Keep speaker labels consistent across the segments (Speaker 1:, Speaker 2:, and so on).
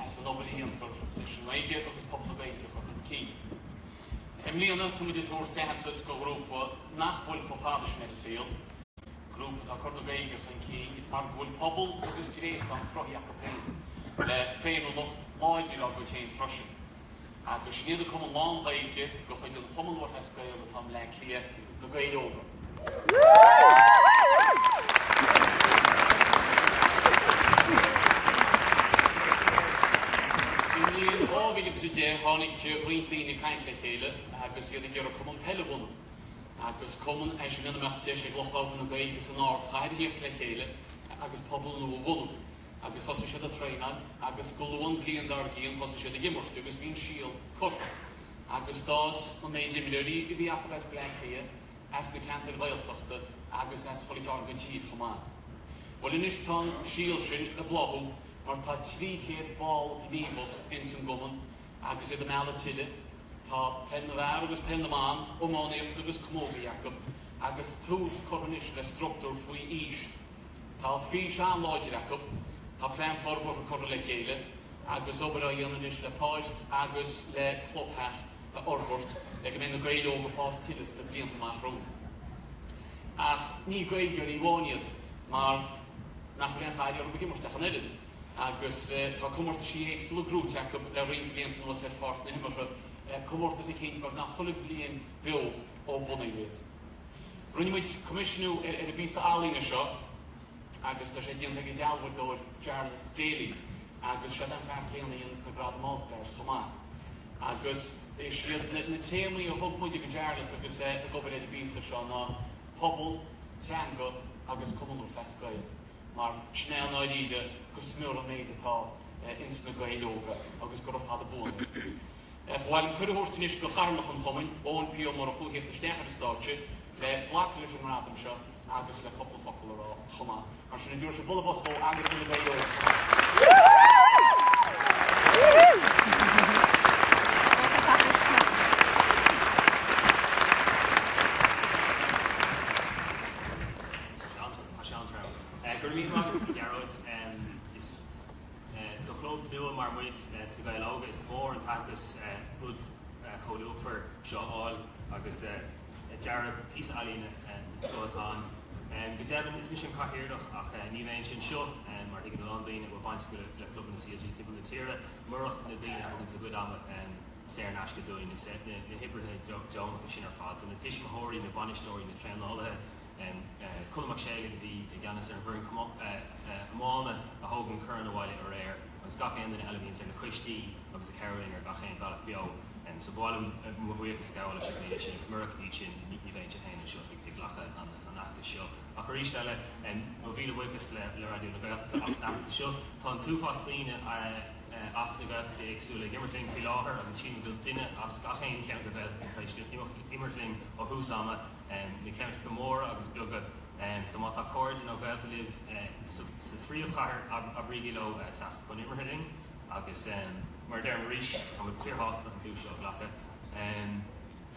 Speaker 1: as an obair a dhéantar leis an nGaeilge agus pobal na Gaeilge a chur chun cinn, I mbliana tá muid ag tabhairt aitheantas do ghrúpa nach bhfuil chomh fada sin ar an saol, grúpa atá ag cur na Gaeilge chun cinn mar go bhfuil pobal agus gréasán cruthaithe acu féin le féiniúlacht láidir dá gcuid féin freisin. Agus sin iad an cumann lán-Ghaeilge de chuid an Chumann Lúthchleas Gael atá i mBleá Cliath, Na Gaeil Óga. Sa mbliain 2010 tháinig roinnt daoine ag caint le chéile agus iad ag iarraidh cumann peile a bhunú. Agus cumann é sin ina mbeadh deis ag lucht labhartha na Gaeilge san ardchathair a thíocht le chéile agus pobal nua a bhunú. agus thosaigh siad ag traenáil agus go luath an bhliain dár gcionn thosaigh siad ag imirt agus bhí an síol curtha agus d'fhás an méid imreoirí a bhí acu as Bleá Cliath, as na ceantair Ghaeltachta agus as chuile chearn den tír chomh maith. Bhuel anois tá an síol sin ag bláthú mar tá 300 ball gníomhach ins an gcumann agus iad ag mealladh tuilleadh. Tá peil na bhfear agus peil na mban, iománaíocht agus camógaíocht acu agus tús curtha anois le structúr faoi aois. Tá fís an-láidir acu, tá plean forbartha curtha le chéile agus obair á dhéanamh anois le páirc agus le clubtheach a fhorbairt le go mbeidh na Gaeil Óga ag fás tuilleadh sna blianta amach romhainn. Ach ní Gaeilgeoirí amháin iad mar nach bhfuil aon chailleadh orthu ag imirt ach an oiread agus tá comórtaisí éagsúla buaite acu le roinnt blianta anuas ar pháirc na himeartha, comórtas eicínt beagnach chuile bhliain beo ó bunaíodh iad. Rinne muid coimisiúnú ar an bpíosa ealaíne seo agus tá sé déanta ag an dealbhadóir Jarlath Daly agus sin é an fear céanna a dhéananns na gradaim All Stars chomh maith. Agus is iad na téamaí a thug muid do Jarlath agus é ag obair ar an bpíosa seo ná pobal, teanga agus Cumann Lúthchleas Gael mar sin é i ndáiríre go smior an méid atá ins na Gaeil Óga agus gura fada buan iad. Ba mhaith liom cuireadh a thabhairt anois do Chathaoirleach an Chumainn, Eoin P. Ó Murchú a thíocht isteach ar an stáitse le glacadh leis an ngradam seo agus le cúpla focal a rá chomh maith. Mar sin, ar ndóigh bualadh bos d'Eoin agus do na Gaeil Óga chomh maith. Tá sé an-trua. Go raibh míle maith
Speaker 2: agat, Gearóid. Is. Do chlub nua mar muid sna Gaeil Óga, is mór an t-aitheantas é rud chomh luachmhar seo a fháil agus dearadh píosa ealaíne den scoth atá ann. Go deimhin, is mise an cathaoirleach ach ní bheinn anseo, mar a thuigeann a lán daoine a bhfuil baint acu le clubanna CLG timpeall na tíre, murach na daoine a thuganns a gcuid ama saor in aisce dúinn, na hoibrithe deonacha sin ar fad, na tuismitheoirí, na bainisteoirí, na traenálaithe, Colm Mac Séalaigh a bhí i gceannas ar an bhfoireann iomána a thóg an corn abhaile aréir agus gach aon duine eile, a bhí ins na coistí agus a chabhraigh linn ar gach aon bhealach beo. So ba mhaith liom mo bhuíochas a ghabháil leo sin agus murach iad sin ní bheinnse féin anseo ag glacadh an aitheantais seo. Ach arís eile mo mhíle buíochas le le Raidió na Gaeltachta as an aitheantas seo. Tá an t-uafás daoine as na Gaeltachtaí éagsúla ag imirt linn faoi láthair agus sílim go bhfuil duine as gach aon cheantar Gaeltachta tar éis imirt linn ó thús ama. na ceantracha móra agus beaga so má tá cairde nó gaolta libh sa phríomhchathair abraígí leo teacht chun imeartha linn agus mar a deirim arís táimid fíor shásta an duais seo a ghlacadh.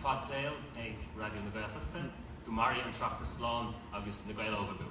Speaker 2: Fad saol ag Raidió na Gaeltachta. Go mairfidh an tOireachtas slán agus Na Gaeil Óga beo.